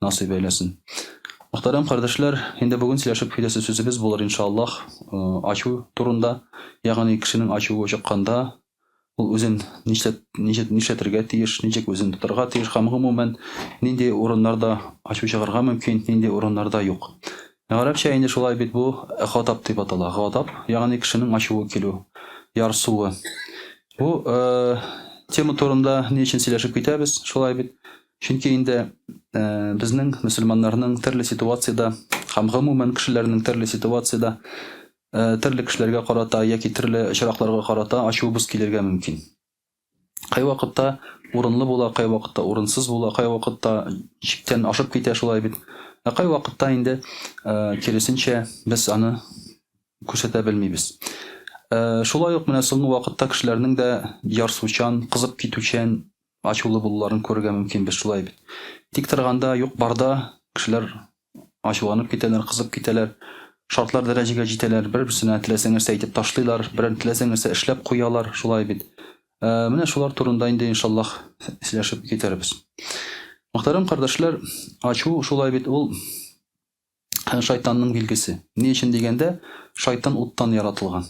насыйп әйләсен. Мөхтәрәм кардәшләр, инде бүген сөйләшеп киләсе сүзебез булыр иншааллаһ, ачу турында, ягъни кешенең ачуы чыкканда, ул үзен нишләт, нишләт, нишләтергә тиеш, ничек үзен тотарга тиеш һәм гомумән нинди урыннарда ачу чыгарга мөмкин, нинди урыннарда юк. Гарәпчә инде шулай бит бу гадап дип атала. Гадап, ягъни кешенең ачуы килү, ярсуы. Бу тема турында ни өчен сөйләшеп китәбез, шулай бит? Чөнки инде безнең, мөселманнарның төрле ситуациядә һәм гомумән кешеләрнең төрле ситуациядә төрле кешеләргә карата яки төрле очракларга карата ачуыбыз килергә мөмкин. Кайвакытта урынлы була, кайвакытта урынсыз була, кайвакытта чиктән ашып китә шулай бит. Ә кайвакытта инде киресенчә без аны күрсәтә белмибез. Шулай ук менә соңгы вакытта кешеләрнең дә ярсучан, кызып китүчән Ачулы булуларын күрергә мөмкин, без шулай бит. Тик торганда, юк-барда кешеләр ачуланып китәләр, кызып китәләр. Шартлар дәрәҗәгә җитәләр, бер-берсенә теләсә нәрсә әйтеп ташлыйлар, берәр теләсә нәрсә эшләп куялар, шулай бит. Ә, менә шулар турында инде, иншаллаһ, сөйләшеп китәрбез. Мөхтәрәм кардәшләр, ачу шулай бит, ул һәм шайтанның билгесе. Ни өчен дигәндә, шайтан уттан яратылган.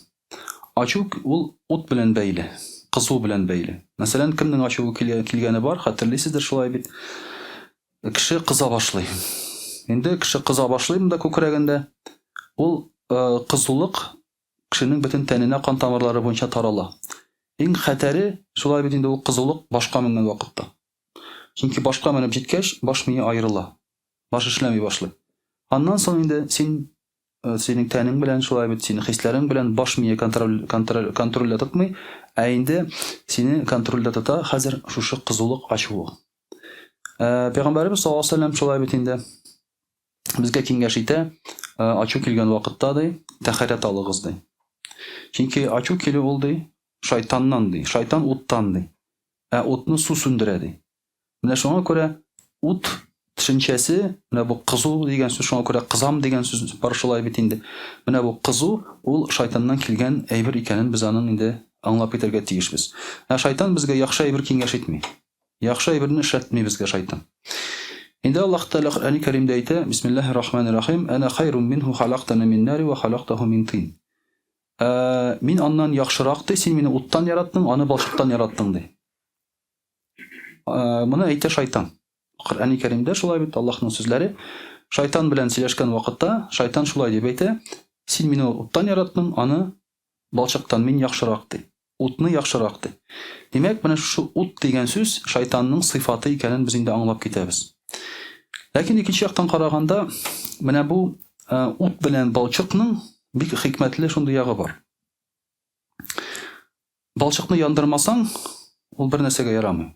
Ачу ул ут белән бәйле, кызу белән бәйле. Мәсәлән, кемнең ачуы килгәне бар, хәтерлисездер шулай бит. Кеше кыза башлый. Инде кеше кыза башлый монда күкрәгендә. Ул кызулык кешенең бөтен тәненә кан тамырлары буенча тарала. Иң хәтәре шулай бит инде ул кызулык башка менгән вакытта. Чөнки башка менеп җиткәч, баш мие аерыла. Баш эшләми башлый. Аннан соң инде син э, синең тәнең белән шулай бит, синең хисләрең белән баш мие контроль, контроль, контрольдә тотмый, ә инде сине контрольдә тота хәзер шушы кызулык, ачулык. Э, Пәйгамбәребез саллаллаху алейһи вәсәлләм шулай бит инде безгә киңәш итә, э, ачу килгән вакытта ди, тәхәрәт алыгыз ди. Чөнки ачу килү ул ди, шайтаннан ди, шайтан уттан ди. Ә утны су сүндерә ди. Менә шуңа күрә ут төшенчәсе, менә бу кызу дигән сүз шуңа күрә кызам дигән сүз бар шулай бит инде. Менә бу кызу ул шайтаннан килгән әйбер икәнен без аның инде аңлап китәргә тиешбез. Ә шайтан безгә яхшы әйбер киңәш итми. Яхшы әйберне эшләтми безгә шайтан. Инде Аллаһ Тәгалә Коръәни Кәримдә әйтә, Бисмиллаһи рахмани рахим, Әнә хайрум минһу халактани мин нари ва халактаху мин тин. Ә, мин аннан яхшырак ди, син мине уттан яраттың, аны балчыктан яраттың ди. Э, моны әйтә шайтан. Коръәни Кәримдә шулай бит Аллаһның сүзләре. Шайтан белән сөйләшкән вакытта шайтан шулай дип әйтә, син мине уттан яраттың, аны балчыктан мин яхшырак ди. Утны яхшырак ди. Димәк, менә шушы ут дигән сүз шайтанның сыйфаты икәнен без инде аңлап китәбез. Ләкин икенче яктан караганда, менә бу э, ут белән балчыкның бик хикмәтле шундый ягы бар. Балчыкны яндырмасаң, ул бер нәрсәгә ярамый.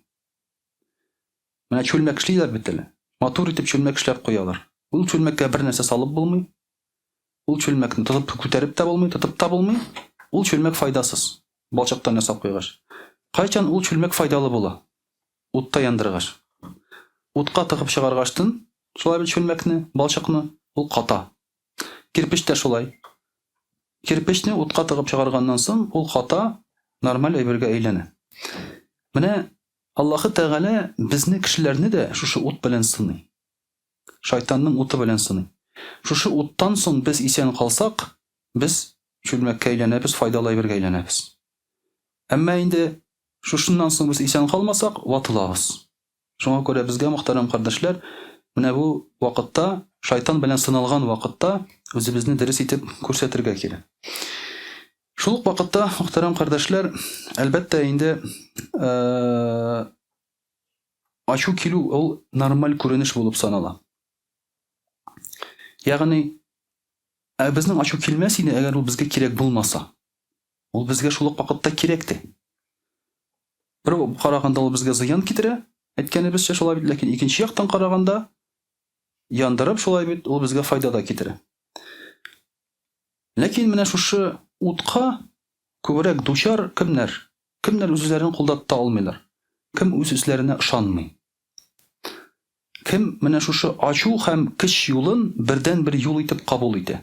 Менә чүлмәк эшлиләр бит әле. Матур итеп чүлмәк эшләп куялар. Ул чүлмәккә бер нәрсә салып булмый. Ул чүлмәкне тотып күтәреп тә булмый, тотып та булмый. Ул чүлмәк файдасыз. Балчыктан ясап куйгач. Кайчан ул чүлмәк файдалы була? Утта яндыргач. Утка тыгып чыгаргачтын, шулай бит чүлмәкне, балчыкны, ул ката. Кирпеч тә шулай. Кирпечне утка тыгып чыгарганнан сон, ул ката, нормаль әйбергә әйләнә. Менә Аллаһы Тәгалә безне кешеләрне дә шушы ут белән сыный. Шайтанның уты белән сыный. Шушы уттан сон без исән калсак, без чүлмәккә әйләнәбез, файдалы әйбергә әйләнәбез. Әмма инде шушыннан сон без исән калмасак, ватылабыз. Шуңа күрә безгә, мөхтәрәм кардәшләр, менә бу вакытта, шайтан белән сыналган вакытта, үзебезне дөрес итеп күрсәтергә кирәк. Шул ук вакытта, мөхтәрәм кардәшләр, әлбәттә инде, ачу килү ул нормаль күренеш булып санала. Ягъни, ә безнең ачу килмәс иде, әгәр ул безгә кирәк булмаса. Ул безгә шул ук вакытта кирәк тә. Бер караганда ул безгә зыян китерә, әйткәнебезчә шулай бит, ләкин икенче яктан караганда, яндырып шулай бит, ул безгә файда да китерә. Ләкин менә шушы утка күбрәк дучар кемнәр? Кемнәр үзләрен кулда тота алмыйлар? Кем үз үзләренә ышанмый? Кем менә шушы ачу һәм кич юлын бердән-бер юл итеп кабул итә?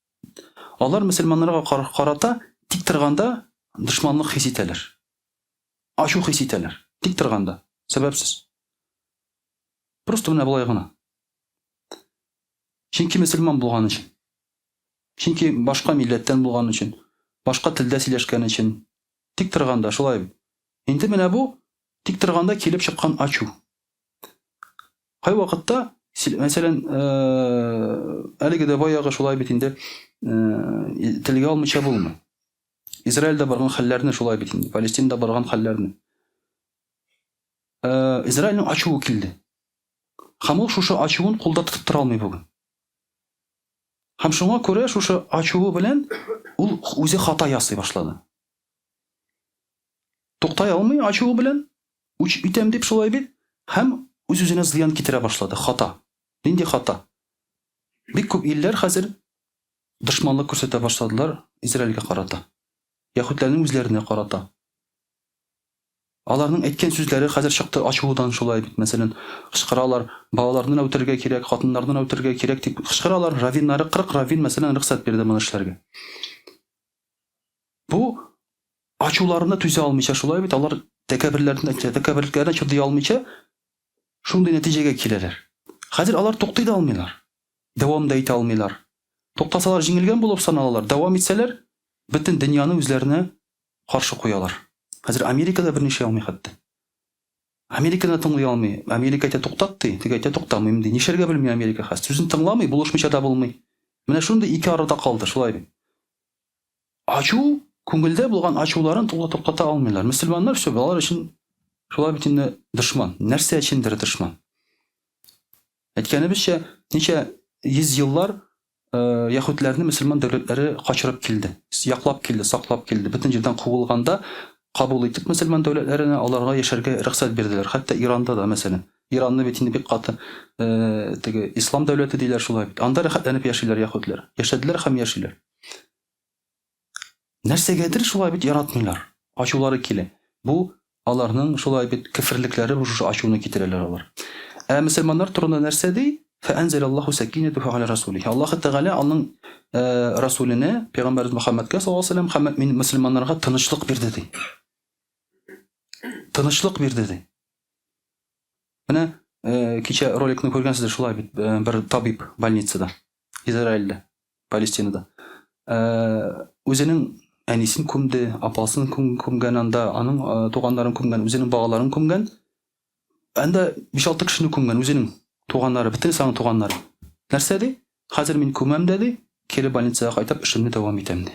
Алар мөселманнарга карата тик торганда дошманлык хис итәләр. Ачу хис итәләр. Тик торганда. Сәбәпсез. Просто менә болай гына. Чөнки мөселман булган өчен. Чөнки башка милләттән булган өчен, башка телдә сөйләшкән өчен. Тик торганда шулай. Инде менә бу тик торганда килеп чыккан ачу. Кайвакытта, мәсәлән, әлеге дә баягы шулай бит инде, телгә алмыйча булмый. Израильдә барган хәлләрне шулай бит инде, Палестинада барган хәлләрне. Израильның ачуы килде. Һәм ул шушы ачуын кулда тотып тора алмый бүген. Һәм шуңа күрә шушы ачуы белән ул үзе хата ясый башлады. Туктай алмый, ачуы белән, үч итәм дип шулай бит, һәм үз-үзенә зыян китерә башлады. Хата. Нинди хата? Бик күп илләр хәзер дошманлык күрсәтә башладылар Израильгә карата. Яһүдләрнең үзләренә карата. Аларның әйткән сүзләре хәзер чыкты ачудан шулай бит, мәсәлән, кычкыралар, балаларны да үтерергә кирәк, хатыннарны да үтерергә кирәк дип кычкыралар. Раввиннары, 40 раввин, мәсәлән, рөхсәт бирде моны эшләргә. Бу Ачуларына түзә алмыйча, шулай бит, алар тәкәбберләренә, тәкәбберлекләренә чыдый алмыйча, шундый нәтиҗәгә киләләр. Хәзер алар туктый да алмыйлар, дәвам да итә алмыйлар. Туктасалар, җиңелгән булып саналалар, дәвам итсәләр, бөтен дөньяны үзләренә каршы куялар. Хәзер Америка да берни эшли алмый хәтта. Американы да тыңлый алмый. Америка әйтә, туктат, ди, теге әйтә, туктамыйм, ди. Нишләргә белми Америка хәзер. Сүзен тыңламый, булышмыйча да булмый. Менә шундый ике арада калды, шулай бит. Ачу, күңелдә булган ачуларын тула туктата алмыйлар. Мөселманнар все балалар өчен шулай бит инде дошман. Нәрсә өчендер дошман. Әйткәнебезчә, ничә йөз еллар э, яһүдләрне мөселман дәүләтләре качырып килде. Яклап килде, саклап килде. Бөтен җирдән куылганда кабул итеп мөселман дәүләтләренә аларга яшәргә рөхсәт бирделәр. Хәтта Иранда да, мәсәлән. Иранны бит инде бик каты э, теге ислам дәүләте диләр шулай бит. Анда рәхәтләнеп яшиләр яһүдләр. Яшәделәр һәм яшиләр. Нәрсәгәдер шулай бит яратмыйлар. Ачулары килә. Бу аларның шулай бит кеферлекләре бу шушы ачуны китерәләр алар. Ә мөселманнар турында нәрсә ди? Фәәнзәл Аллаһу сәкинәтү фәгалә расулихи. Аллаһ Тәгалә аның э, расуленә, пәйгамбәрбез Мөхәммәдкә саллаллаһу алейһи ва саллям һәм мөселманнарга тынычлык бирде ди. Тынычлык бирде ди. Менә э, кичә роликны күргәнсездер шулай бит, э, бер табиб больницада. Израильдә, Палестинада. Э, үзенең әнисен күмде, апасын күм, күмгән анда, аның э, туганнарын күмгән, үзенең балаларын күмгән. Анда 5-6 кешене күмгән үзенең туганнары, бөтен саның туганнары. Нәрсә ди? Хәзер мин күмәм дә ди, кире больницага кайтып эшемне дәвам итәм ди.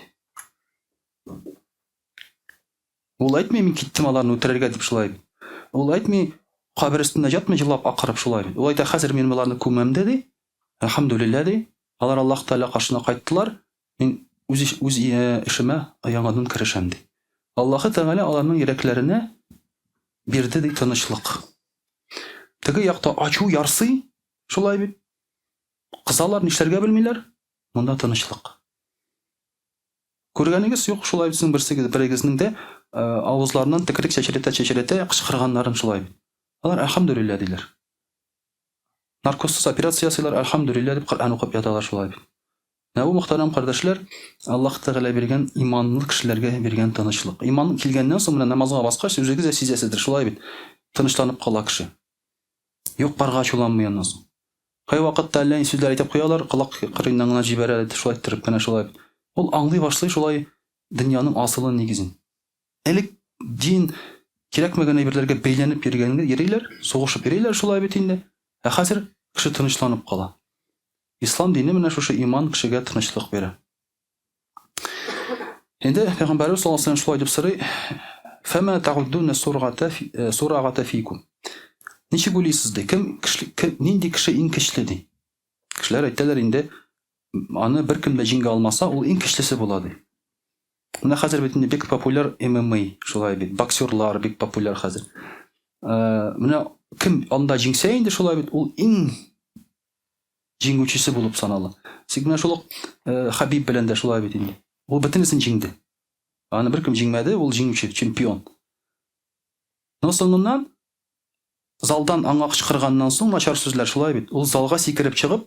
Ул әйтми мин киттем аларны үтерергә дип шулай. Ул әйтми кабер өстендә ятмый җылап акырып шулай. Ул әйтә хәзер мин боларны күмәм дә ди, Әлхәмдүлилләһ, ди, алар Аллаһ Тәгалә каршына кайттылар, мин үз үз эшемә яңадан керешәм, ди. Аллаһы Тәгалә аларның йөрәкләренә бирде, ди, тынычлык. Теге якта ачу ярсый, шулай бит. Кысалар, нишләргә белмиләр. Монда тынычлык. Күргәнегез юк, шулай бит, сезнең берсегез, берегезнең дә э, авызларыннан текрек чәчрәтә-чәчрәтә кычкырганнарын шулай бит. Алар әлхәмдүлилләһ диләр. Наркозсыз операция ясыйлар, әлхәмдүлилләһ дип Коръән укып яталар шулай. Менә бу, мөхтәрәм кардәшләр, Аллаһ Тәгалә биргән иманлы кешеләргә биргән тынычлык. Иман килгәннән соң, менә намазга баскач, үзегез дә сизәсездер, шулай бит, тынычланып кала кеше. Йокларга ачуланмый аннан соң. Кайвакытта әллә ни сүзләр әйтеп куялар, колак кырыеннан гына җибәрә, шулай иттереп кенә шулай бит. Ул аңлый башлый шулай дөньяның асылын, нигезен. Элек дин кирәкмәгән әйберләргә бәйләнеп йөргәнгә йөриләр, сугышып йөриләр шулай бит инде. Ә хәзер кеше тынычланып кала. Ислам дине менә шушы иман кешегә тынычлык бирә. Инде Пәйгамбәрбез саллаллаһу алейһи шулай дип сорый, Фәмә тагуддуна сургата э, сурагата фикум. Ничек уйлыйсыз ди? Кем кеше кем нинди кеше иң көчле ди? Кешеләр әйтәләр инде аны беркем дә җиңә алмаса, ул иң көчлесе була ди. Менә хәзер бит инде бик популяр ММА, шулай бит, боксерлар бик популяр хәзер. Менә кем анда җиңсә инде шулай бит, ул иң җиңүчесе булып санала. Тик менә шул Хабиб белән дә шулай бит инде. Ул бөтенесен җиңде. Аны беркем җиңмәде, ул җиңүче, чемпион. Но соңыннан залдан аңа кычкырганнан соң начар сүзләр шулай бит. Ул залга сикереп чыгып,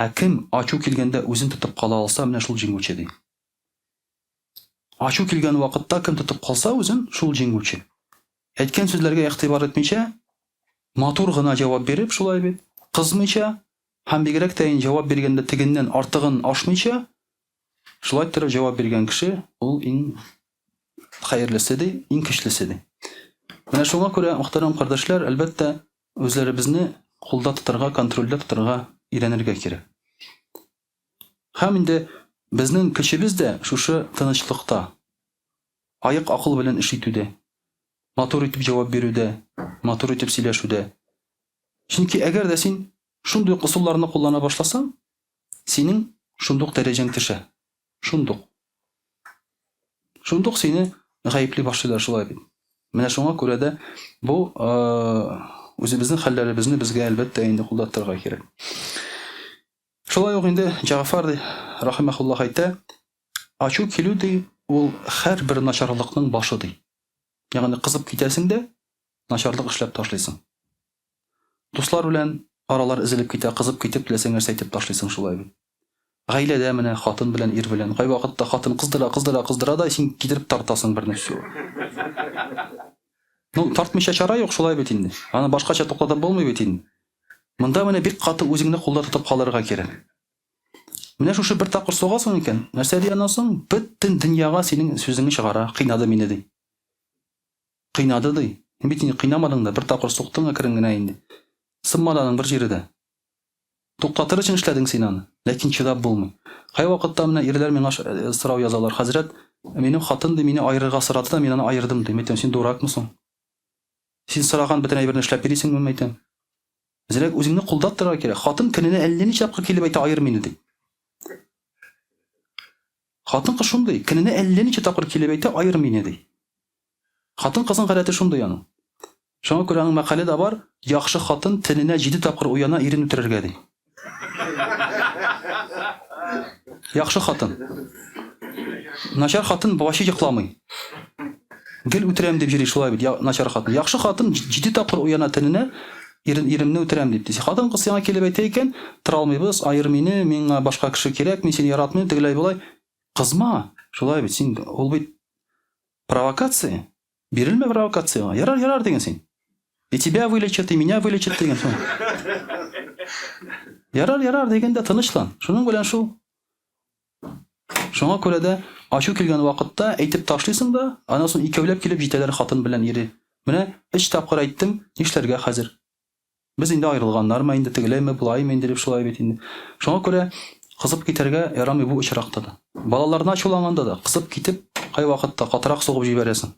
Ә кем ачу килгәндә үзен тотып кала алса, менә шул җиңүче, ди. Ачу килгән вакытта кем тотып калса үзен, шул җиңүче. Әйткән сүзләргә игътибар итмичә, матур гына җавап биреп, шулай бит, кызмыйча һәм бигрәк тә җавап биргәндә тегеннән артыгын ашмыйча, шулай торып җавап биргән кеше ул иң хәерлесе, ди, иң көчлесе, ди. Менә шуңа күрә, мөхтәрәм кардәшләр, әлбәттә, Үзләребезне кулда тотарга, контрольдә тотарга өйрәнергә кирәк. Һәм инде безнең көчебез дә шушы тынычлыкта, аек-акыл белән эш итүдә, матур итеп җавап бирүдә, матур итеп сөйләшүдә. Чөнки әгәр дә син шундый ук ысулларны куллана башласаң, синең шундый ук дәрәҗәң төшә. Шундук. Шундук сине гаепли башлыйлар шулай бит. Менә шуңа күрә дә бу үзебезнең хәлләребезне безгә әлбәттә инде кулдаттырырга кирәк. Шулай ук инде Җафар рахимахуллах әйтә, ачу килү ди, ул һәрбер начарлыкның башы ди. Ягъни кызып китәсең дә, начарлык эшләп ташлыйсың. Дуслар белән аралар эзелеп китә, кызып китеп, теләсәң нәрсә әйтеп ташлыйсың шулай бит. Гаиләдә менә хатын белән ир белән, кайвакытта хатын кыздыра, кыздыра, кыздыра да син китереп тартасың берне всю. Ну, тартмыйча чара юк, шулай бит инде. Аны башкача туктатып булмый бит инде. Монда менә бик каты үзеңне кулда тотып калырга кирәк. Менә шушы бер тапкыр сугасың икән, нәрсә ди аннан соң, бөтен дөньяга синең сүзеңне чыгара, кыйнады мине ди. Кыйнады ди. Син бит инде кыйнамадың да, бер тапкыр суктың әкрен генә инде. Сынмады аның бер җире дә. Туктатыр өчен эшләдең син аны. Ләкин чыдап булмый. Кайвакытта менә ирләр миңа сорау язалар, Хәзрәт, минем хатын, ди, мине аерырга сорады да, мин аны аердым, дим. Әйтәм, син дуракмы соң? Син сораган бөтен әйберне эшләп йөрисеңмени, әйтәм. Зирәк үзеңне кулдап торырга кирәк. Хатын көненә әллә ничә тапкыр килеп әйтә, аер мине, ди. Хатын-кыз шундый, көненә әллә ничә тапкыр килеп әйтә, аер мине, ди. Хатын-кызның гадәте шундый аның. Шуңа күрә аның мәкале дә бар, Яхшы хатын төненә җиде тапкыр уяна ирен үтерергә, ди. Яхшы хатын. Начар хатын ваче йокламый. Гел үтерәм дип җөри, шулай бит, начар хатын. Яхшы хатын җиде тапкыр уяна төненә, ирен, иремне үтерәм дип, ди. Хатын-кыз сиңа килеп әйтә икән, Тора алмыйбыз, аер мине, миңа башка кеше кирәк, мин сине яратмыйм, тегеләй-болай. Кызма! Шулай бит, син, ул бит Провокация? Бирелмә провокациягә. Ярар, ярар диген син. И тебя вылечат, и меня вылечат диген шул. Ярар, ярар диген дә тынычлан. Шуның белән шул. Шуңа күрә дә ачу килгән вакытта әйтеп ташлыйсың да, аннан соң икәүләп килеп җитәләр хатын белән ире. Менә өч тапкыр әйттем, нишләргә хәзер? Без инде аерылганнармы инде, тегеләйме, болаимы инде дип шулай бит инде. Шуңа күрә кызып китәргә ярамый бу очракта да. Балаларны ачуланганда да, кызып китеп, кайвакытта катырак сугып җибәрәсең.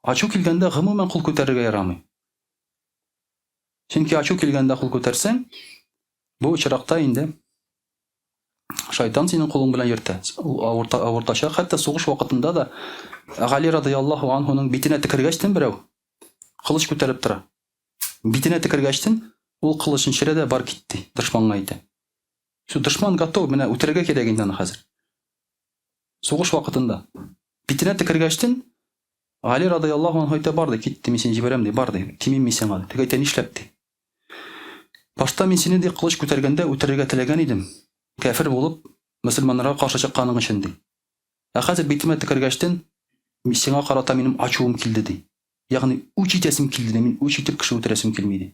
Ачу килгәндә гомумән кул күтәрергә ярамый. Чөнки ачу килгәндә кул күтәрсәң, бу очракта инде шайтан синең кулың белән йөртә. Ул авырта, авыртачак. Хәтта сугыш вакытында да Гали радияллаһу анһуның битенә текергәч тем берәү, Кылыч күтәреп тора. Битенә текергәчтен, ул кылычын черә дә бар кит, ди, дошманга әйтә. Все, дошман готов, менә үтерергә кирәк инде аны хәзер. Сугыш вакытында. Битенә текергәчтен, Гали радыяллаһу анһу әйтә, бар, ди, кит, ди, мин сине җибәрәм, ди, бар, ди, тимим мин сиңа, ди. Теге әйтә, нишләп, ди. Башта мин сине, ди, кылыч күтәргәндә үтерергә теләгән идем, кәфер булып, мөселманнарга каршы чыкканың өчен, ди. Ә хәзер битемә текергәчтен, сиңа карата минем ачуым килде, ди. Ягъни, үч итәсем килде, ди. Мин үч итеп кеше үтерәсем килми, ди.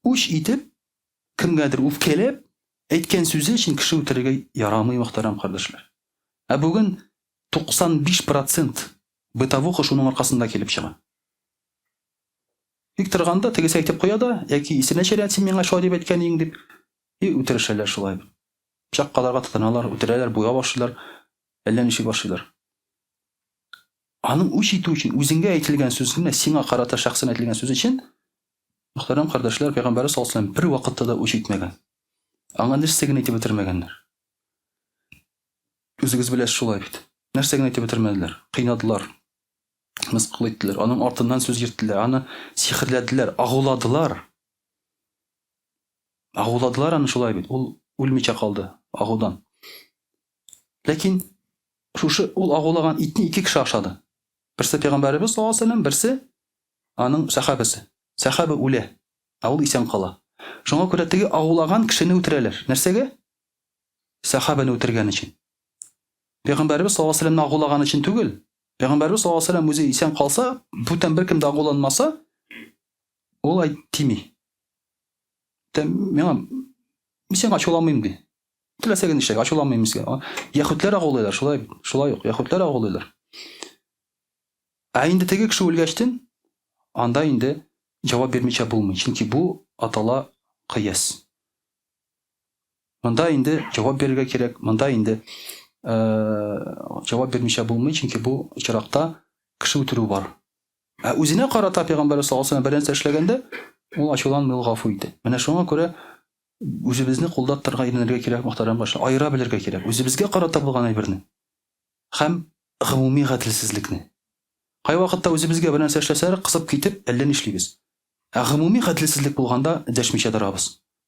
Үч итеп, кемгәдер үпкәләп, әйткән сүзе өчен кеше үтерергә ярамый, мөхтәрәм кардәшләр. Ә бүген 95 процент бытовуха шуның аркасында килеп чыга. Бик торганда, тегесе әйтеп куя да, яки исенә төшерә, син миңа шулай дип әйткән идең, дип, и үтерешәләр шулай. Пычак кадарга тотыналар, үтерәләр, буйга башлыйлар, әллә ничек башлыйлар. Аның үч итү өчен, үзеңгә әйтелгән сүз, менә сиңа карата шәхсән әйтелгән сүз өчен, мөхтәрәм кардәшләр, Пәйгамбәрбез саллаллаһу алейһи ва сәлләм бер вакытта да үч итмәгән. Аңа нәрсә генә әйтеп бетермәгәннәр. Үзегез беләсез шулай бит. Нәрсә генә әйтеп бетермәделәр. Кыйнадылар. Мыскыл иттеләр. Аның артыннан сүз йөрттеләр. Аны сихерләделәр, агуладылар. Агуладылар аны шулай бит, ул үлмичә калды агудан. Ләкин шушы ул агулаган итне ике кеше ашады. Берсе пәйгамбәребез саллаллаһу алейһи вәсәлләм, берсе аның сәхабәсе. Сәхабә үлә, ә ул исән кала. Шуңа күрә теге агулаган кешене үтерәләр. Нәрсәгә? Сәхабәне үтергән өчен. Пәйгамбәребез саллаллаһу алейһи вәсәлләмне агулаган өчен түгел. Пәйгамбәребез саллаллаһу алейһи вәсәлләм үзе исән калса, бүтән беркем дә агуланмаса, ул әйт тими. миңа мисең ачуламыйм ди теләсә генә эшләгә ачуламыйм мисең яхүтләр агулыйлар шулай шулай ук яхүтләр агулыйлар ә инде теге кеше үлгәчтен анда инде җавап бирмичә булмый чөнки бу атала кыяс монда инде җавап бирергә кирәк монда инде җавап бирмичә булмый чөнки бу очракта кеше үтерү бар Ә үзенә карата пәйгамбәрбез саллаллаһу алейһи ва сәлләм бер нәрсә эшләгәндә, ул ачуланмый, ул гафу итә. Менә шуңа күрә үзебезне кулда тотарга өйрәнергә кирәк, мөхтәрәм башлар. Аера белергә кирәк үзебезгә карата булган әйберне һәм гомуми гаделсезлекне. Кайвакытта үзебезгә бер нәрсә эшләсәләр, кысып китеп, әллә нишлибез. Ә гомуми гаделсезлек булганда дәшмичә торабыз.